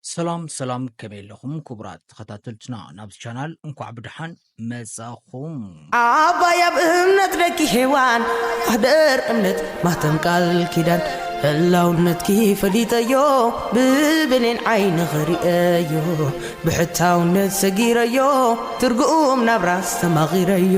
ሰላም ሰላም ከመይ ኣለኹም ክቡራት ተኸታተልትና ናብዚ ቻናል እንኳዕ ብድሓን መጻኹም ኣባይ ኣብ እምነት ደቂ ሔዋን ማህደር እምነት ማተም ቃል ኪዳን ህላውነትኪ ፈሊጠዮ ብብሌን ዓይኒ ኽርእየዮ ብሕታውነት ሰጊረዮ ትርጉም ናብራ ኣስተማቒረዮ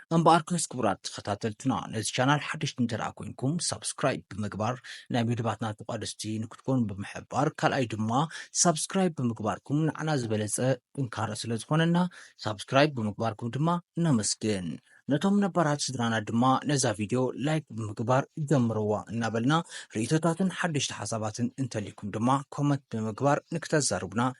እምበኣር ከስ ክቡራት ተኸታተልትና ነዚ ቻናል ሓደሽቲ እንተደኣ ኮንኩም ሳብስክራይብ ብምግባር ናይ መደባትና ተቋደስቲ ንክትኮኑ ብምሕባር ካልኣይ ድማ ሳብስክራይብ ብምግባርኩም ንዓና ዝበለፀ ጥንካረ ስለ ዝኾነና ሳብስክራይብ ብምግባርኩም ድማ ነመስግን። ነቶም ነባራት ስድራና ድማ ነዛ ቪድዮ ላይክ ብምግባር ጀምርዋ እናበልና ርእቶታትን ሓደሽቲ ሓሳባትን እንተልይኩም ድማ ኮመንት ብምግባር ንክተዛርቡና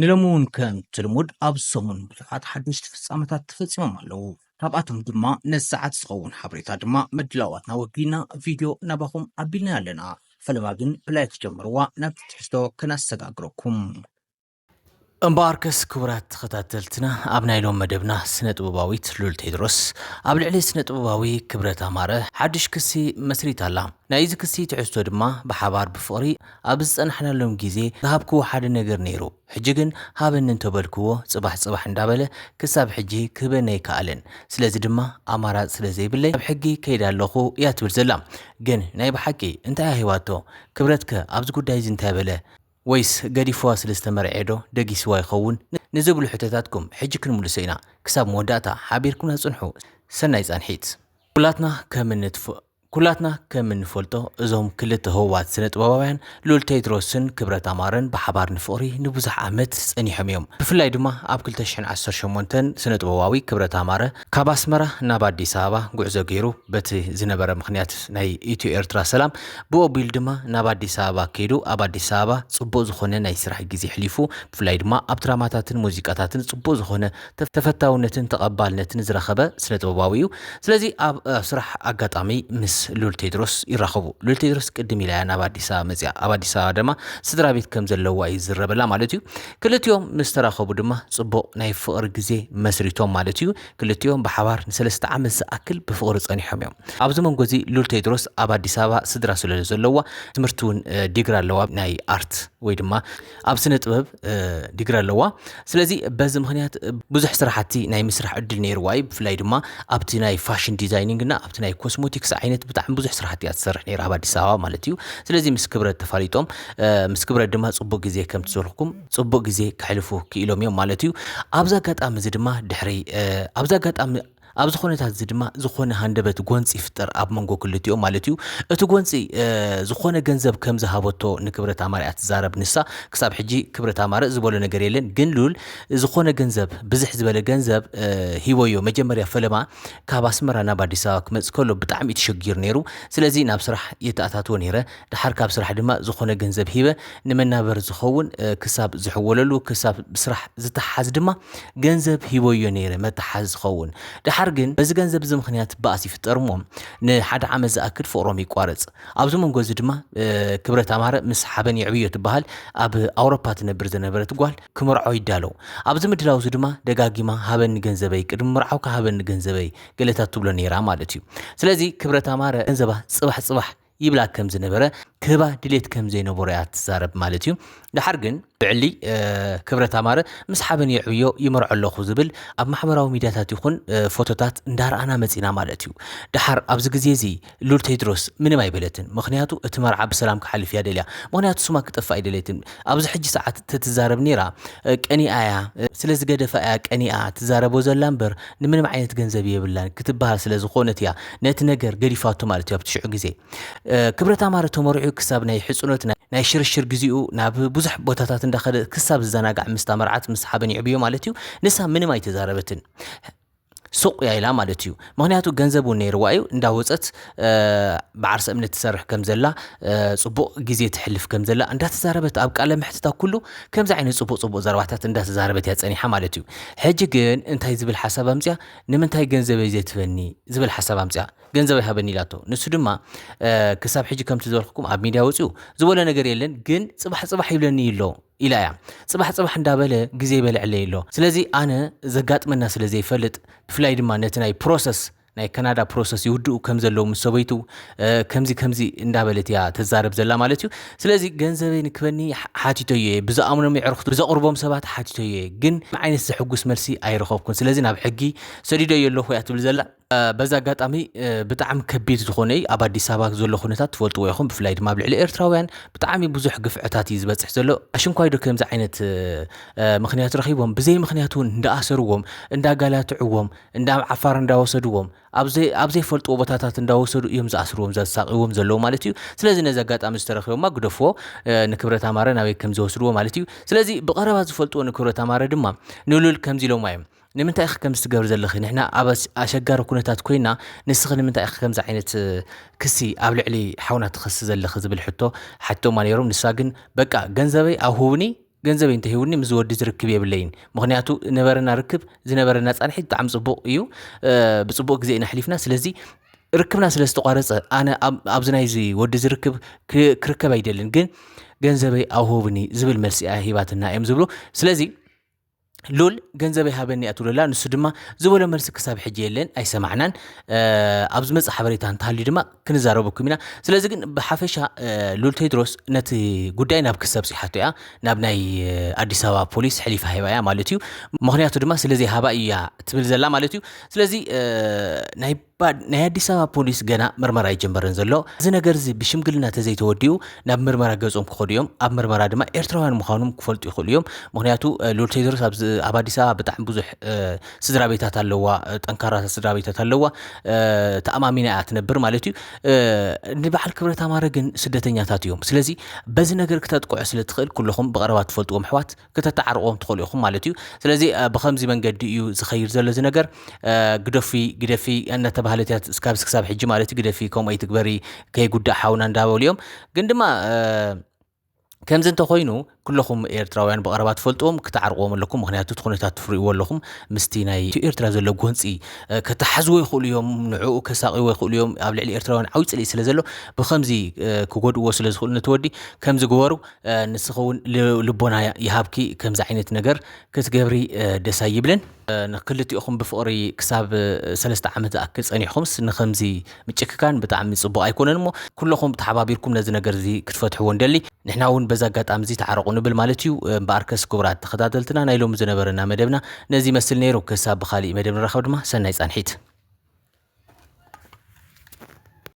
ንሎሚ እውን ከምቲ ልሙድ ኣብ ሰሙን ብዙሓት ሓደሽቲ ፍጻመታት ተፈጺሞም ኣለዉ። ካብኣቶም ድማ ነዚ ሰዓት ዝኸውን ሓበሬታ ድማ ምድላዋትና ወጊና ቪድዮ ናባኹም ኣቢልና ኣለና። ፈለማ ግን ብላይክ ጀምርዋ ናብቲ ትሕዝቶ ከነሰጋግረኩም። እምበኣርከስ ክቡራት ተኸታተልትና ኣብ ናይ ሎም መደብና ስነ ጥበባዊት ሉል ቴድሮስ ኣብ ልዕሊ ስነ ጥበባዊ ክብረት ኣማረ ሓድሽ ክሲ መስሪታ ኣላ። ናይ እዚ ክሲ ትሕዝቶ ድማ ብሓባር ብፍቕሪ ኣብ ዝጸናሕናሎም ግዜ ዝሃብክዎ ሓደ ነገር ነይሩ፣ ሕጂ ግን ሃበኒ እንተበልክዎ ጽባሕ ጽባሕ እንዳበለ ክሳብ ሕጂ ክህበኒ ኣይከኣለን፣ ስለዚ ድማ ኣማራጺ ስለ ዘይብለይ ናብ ሕጊ ከይደ ኣለኹ እያ ትብል ዘላ። ግን ናይ ብሓቂ እንታይ እያ ሂባቶ? ክብረትከ ኣብዚ ጉዳይ እዚ እንታይ በለ? ወይስ ገዲፍዋ ስለ ዝተመርዔ ዶ ደጊስዋ ይኸውን? ንዝብሉ ሕቶታትኩም ሕጂ ክንምልሶ ኢና። ክሳብ መወዳእታ ሓቢርኩምና ጽንሑ። ሰናይ ጻንሒት! ኩላትና ከም እንፍ ኩላትና ከም እንፈልጦ እዞም ክልተ ህቡባት ስነ-ጥበባውያን ልኡል ቴድሮስን ክብረት ኣማረን ብሓባር ንፍቕሪ ንብዙሕ ዓመት ጸኒሖም እዮም። ብፍላይ ድማ ኣብ ክልተ ሽሕን ዓሰርተ ሸሞንተን ስነ-ጥበባዊ ክብረት ኣማረ ካብ ኣስመራ ናብ ኣዲስ ኣበባ ጉዕዞ ገይሩ በቲ ዝነበረ ምኽንያት ናይ ኢትዮ ኤርትራ ሰላም ብኡ ኣቢሉ ድማ ናብ ኣዲስ ኣበባ ከይዱ ኣብ ኣዲስ ኣበባ ጽቡቕ ዝኾነ ናይ ስራሕ ግዜ ኣሕሊፉ ብፍላይ ድማ ኣብ ድራማታትን ሙዚቃታትን ጽቡቕ ዝኾነ ተፈታውነትን ተቐባልነትን ዝረኸበ ስነ ጥበባዊ እዩ ስለዚ ኣብ ስራሕ ኣጋጣሚ ምስ ሉል ቴድሮስ ይራኸቡ ሉል ቴድሮስ ቅድም ኢላ እያ ናብ ኣዲስ ኣበባ መጽያ ኣብ ኣዲስ ኣበባ ድማ ስድራ ቤት ከም ዘለዋ ይዝረበላ ማለት እዩ ክልቲኦም ምስ ተራኸቡ ድማ ጽቡቕ ናይ ፍቕሪ ግዜ መስሪቶም ማለት እዩ። ክልቲኦም ብሓባር ንሰለስተ ዓመት ዝኣክል ብፍቕሪ ጸኒሖም እዮም። ኣብዚ መንጎ እዚ ሉል ቴድሮስ ኣብ ኣዲስ ኣበባ ስድራ ስለ ዘለዋ ትምህርቲ እውን ዲግሪ ኣለዋ ናይ ኣርት ወይ ድማ ኣብ ስነ ጥበብ ዲግሪ ኣለዋ። ስለዚ በዚ ምክንያት ብዙሕ ስራሕቲ ናይ ምስራሕ ዕድል ነይርዋ እዩ። ብፍላይ ድማ ኣብቲ ናይ ፋሽን ዲዛይኒንግ እና ኣብቲ ናይ ኮስሞቲክስ ዓይነት ብጣዕሚ ብዙሕ ስራሕቲ እያ ትሰርሕ ነይራ ኣብ ኣዲስ ኣበባ ማለት እዩ። ስለዚ ምስ ክብረት ተፋሊጦም ምስ ክብረት ድማ ጽቡቅ ግዜ ከም ትዘልኩም ጽቡቅ ግዜ ክሕልፉ ክኢሎም እዮም ማለት እዩ ኣብዚ ኣጋጣሚ እዚ ድማ ድሕሪ ኣብዚ ኣጋጣሚ ኣብዚ ኩነታት እዚ ድማ ዝኾነ ሃንደበት ጎንፂ ይፍጠር ኣብ መንጎ ክልቲኦ ማለት እዩ እቲ ጎንፂ ዝኾነ ገንዘብ ከም ዝሃበቶ ንክብረት ኣማረ እያ ትዛረብ ንሳ ክሳብ ሕጂ ክብረት ኣማረ ዝበሎ ነገር የለን ግን ሉል ዝኾነ ገንዘብ ብዝሕ ዝበለ ገንዘብ ሂቦዮ መጀመርያ ፈለማ ካብ ኣስመራ ናብ ኣዲስ ኣበባ ክመፅ ከሎ ብጣዕሚ እዩ ተሸጊሩ ነይሩ ስለዚ ናብ ስራሕ የተኣታትዎ ነይረ ደሓር ካብ ስራሕ ድማ ዝኾነ ገንዘብ ሂበ ንመናበር ዝኸውን ክሳብ ዝሕወለሉ ክሳብ ብስራሕ ዝተሓዝ ድማ ገንዘብ ሂቦዮ ነይረ መተሓዝ ዝኸውን ደሓር ግን በዚ ገንዘብ እዚ ምክንያት ባእስ ይፍጠር እሞ ንሓደ ዓመት ዝኣክል ፍቅሮም ይቋረፅ ኣብዚ መንጎ እዚ ድማ ክብረት ኣማረ ምስ ሓበን የዕብዮ ትበሃል ኣብ ኣውሮፓ ትነብር ዝነበረት ጓል ክምርዖ ይዳለው ኣብዚ ምድላው እዚ ድማ ደጋጊማ ሃበኒ ገንዘበይ ቅድሚ ምርዓውካ ሃበኒ ገንዘበይ ገለታት ትብሎ ነይራ ማለት እዩ ስለዚ ክብረት ኣማረ ገንዘባ ፅባሕ ፅባሕ ይብላ ከም ዝነበረ ክህባ ድሌት ከም ዘይነበሮ እያ ትዛረብ ማለት እዩ ድሓር ግን ብዕሊ ክብረት ኣማረ ምስ ሓበን የዕብዮ ይመርዖ ኣለኹ ዝብል ኣብ ማሕበራዊ ሚድያታት ይኹን ፎቶታት እንዳረኣና መፂና ማለት እዩ ድሓር ኣብዚ ግዜ እዚ ሉል ቴድሮስ ምንም ኣይበለትን ምክንያቱ እቲ መርዓ ብሰላም ክሓልፍ እያ ደልያ ምክንያቱ ስማ ክጠፍእ ኣይደለትን ኣብዚ ሕጂ ሰዓት ተትዛረብ ኔራ ቀኒኣ እያ ስለ ዝገደፋ እያ ቀኒኣ ትዛረቦ ዘላ እምበር ንምንም ዓይነት ገንዘብ የብላን ክትበሃል ስለ ዝኾነት እያ ነቲ ነገር ገዲፋቶ ማለት እዩ ኣብቲ ሽዑ ግዜ ክብረት ኣማረ ተመሪዑ ክሳብ ናይ ሕጽኖት ናይ ሽርሽር ግዜኡ ናብ ብዙሕ ቦታታት እንዳኸደ ክሳብ ዝዘናጋዕ ምስታ መርዓት ምስ ሓበን ይዕብዮ ማለት እዩ ንሳ ምንም ኣይተዛረበትን ሱቕ እያ ኢላ ማለት እዩ ምክንያቱ ገንዘብ እውን ነይርዋ እዩ እንዳወፀት ብዓርሰ እምነት ትሰርሕ ከም ዘላ ፅቡቕ ግዜ ትሕልፍ ከም ዘላ እንዳተዛረበት ኣብ ቃለ መሕትታ ኩሉ ከምዚ ዓይነት ፅቡቕ ፅቡቕ ዘረባታት እንዳተዛረበት እያ ፀኒሓ ማለት እዩ ሕጂ ግን እንታይ ዝብል ሓሳብ ኣምፅያ ንምንታይ ገንዘበይ ዘይትበኒ ዝብል ሓሳብ ኣምፅያ ገንዘብ ኣይሃበኒ ኢላቶ ንሱ ድማ ክሳብ ሕጂ ከምቲ ዝበልኩኩም ኣብ ሚድያ ወፅኡ ዝበሎ ነገር የለን ግን ፅባሕ ፅባሕ ይብለኒ ኣሎ ኢላ እያ ጽባሕ ጽባሕ እንዳበለ ግዜ ይበልዐለይ ኣሎ ስለዚ ኣነ ዘጋጥመና ስለ ዘይፈልጥ ብፍላይ ድማ ነቲ ናይ ፕሮሰስ ናይ ካናዳ ፕሮሰስ ይውድኡ ከም ዘለዉ ምስ ሰበይቱ ከምዚ ከምዚ እንዳበለት እያ ተዛረብ ዘላ ማለት እዩ ስለዚ ገንዘበይ ንክበኒ ሓቲቶዮ እየ ብዝኣምኖም የዕርኽቱ ብዘቕርቦም ሰባት ሓቲቶዮ እየ ግን ዓይነት ዘሕጉስ መልሲ ኣይረኸብኩን ስለዚ ናብ ሕጊ ሰዲዶዮ ኣለኹ እያ ትብል ዘላ በዚ ኣጋጣሚ ብጣዕሚ ከቢድ ዝኾነ እዩ ኣብ ኣዲስ ኣበባ ዘሎ ኩነታት ትፈልጥዎ ኢኹም ብፍላይ ድማ ኣብ ልዕሊ ኤርትራውያን ብጣዕሚ ብዙሕ ግፍዕታት እዩ ዝበፅሕ ዘሎ ኣሽንኳይ ዶ ከምዚ ዓይነት ምክንያት ረኺቦም ብዘይ ምክንያት እውን እንዳኣሰርዎም እንዳጋላትዕዎም እንዳብ ዓፋር እንዳወሰድዎም ኣብ ዘይፈልጥዎ ቦታታት እንዳወሰዱ እዮም ዝኣስርዎም ዘሳቅዎም ዘለዉ ማለት እዩ ስለዚ ነዚ ኣጋጣሚ ዝተረኪቦማ ግደፍዎ ንክብረት ኣማረ ናበይ ከም ዝወስድዎ ማለት እዩ ስለዚ ብቐረባ ዝፈልጥዎ ንክብረት ኣማረ ድማ ንሉል ከምዚ ኢሎማ እዮም ንምንታይ ኢኺ ከምዚ ትገብሪ ዘለኺ ንሕና ኣብ ኣሸጋሪ ኩነታት ኮይና ንስኺ ንምንታይ ኢኺ ከምዚ ዓይነት ክሲ ኣብ ልዕሊ ሓውና ትኸሲ ዘለኺ ዝብል ሕቶ ሓቲቶማ ነይሮም ንሳ ግን በቃ ገንዘበይ ኣብ ሁብኒ ገንዘበይ እንተሂውኒ ምስ ወዲ ዝርክብ የብለይን ምክንያቱ ነበረና ርክብ ዝነበረና ፃንሒት ብጣዕሚ ፅቡቕ እዩ ብፅቡቕ ግዜ ኢና ኣሕሊፍና ስለዚ ርክብና ስለ ዝተቋረፀ ኣነ ኣብዚ ናይዚ ወዲ ዝርክብ ክርከብ ኣይደልን ግን ገንዘበይ ኣውህብኒ ዝብል መልሲ እያ ሂባትና እዮም ዝብሉ ስለዚ ሉል ገንዘበይ ሃበኒ እያ ትብለላ ንሱ ድማ ዝበሎ መልሲ ክሳብ ሕጂ የለን ኣይሰማዕናን ኣብ ዝመፅ ሓበሬታ እንተሃልዩ ድማ ክንዛረበኩም ኢና ስለዚ ግን ብሓፈሻ ሉል ቴድሮስ ነቲ ጉዳይ ናብ ክሰብ ፅሓቶ እያ ናብ ናይ ኣዲስ ኣበባ ፖሊስ ሕሊፋ ሂባ እያ ማለት እዩ ምክንያቱ ድማ ስለዘይ ሃባ እያ ትብል ዘላ ማለት እዩ ስለዚ ናይ ባእ ናይ ኣዲስ ኣበባ ፖሊስ ገና ምርመራ ኣይጀመረን ዘሎ እዚ ነገር እዚ ብሽምግልና ተዘይተወዲኡ ናብ ምርመራ ገጾም ክኸዱ እዮም ኣብ ምርመራ ድማ ኤርትራውያን ምዃኖም ክፈልጡ ይኽእሉ እዮም ምክንያቱ ሉል ቴድሮስ ኣብ ኣዲስ ኣበባ ብጣዕሚ ብዙሕ ስድራ ቤታት ኣለዋ ጠንካራታት ስድራ ቤታት ኣለዋ ተኣማሚና እያ ትነብር ማለት እዩ ንበዓል ክብረት ኣማረ ግን ስደተኛታት እዮም ስለዚ በዚ ነገር ክተጥቅዑ ስለ ትኽእል ኩለኹም ብቐረባ ትፈልጥዎም ኣሕዋት ክተተዓርቕዎም ትኽእሉ ኢኹም ማለት እዩ ስለዚ ብከምዚ መንገዲ እዩ ዝኸይድ ዘሎ እዚ ነገር ግደፊ ግደፊ እናተባህለት እያ እስካብ ክሳብ ሕጂ ማለት እዩ ግደፊ ከምኡ ኣይትግበሪ ከይጉዳእ ሓውና እንዳበሉ እዮም ግን ድማ ከምዚ እንተኮይኑ ኩለኹም ኤርትራውያን ብቐረባ ትፈልጥዎም ክትዓርቕዎም ኣለኩም ምክንያቱ እቲ ኩነታት ትፍርእዎ ኣለኹም ምስቲ ናይ ኤርትራ ዘሎ ጎንፂ ከተሓዝዎ ይኽእሉ እዮም ንዕኡ ከሳቂዎ ይኽእሉ እዮም ኣብ ልዕሊ ኤርትራውያን ዓብይ ፅልኢ ስለ ዘሎ ብከምዚ ክጎድእዎ ስለ ዝኽእሉ ነቲ ወዲ ከምዚ ግበሩ ንስኺ እውን ልቦና ይሃብኪ ከምዚ ዓይነት ነገር ክትገብሪ ደስ ኣይብልን ንክልቲኦኹም ብፍቕሪ ክሳብ ሰለስተ ዓመት ዝኣክል ጸኒሕኹምስ ንከምዚ ምጭክካን ብጣዕሚ ጽቡቕ ኣይኮነን እሞ ኩለኹም ተሓባቢርኩም ነዚ ነገር እዚ ክትፈትሕዎ ንደሊ ንሕና እውን በዚ ኣጋጣሚ እዚ ተዓረቑ ንብል ማለት እዩ እምበኣር ከስ ክቡራት ተኸታተልትና ናይ ሎሚ ዝነበረና መደብና ነዚ ይመስል ነይሩ ክሳብ ብካሊእ መደብ ንራኸብ ድማ ሰናይ ጻንሒት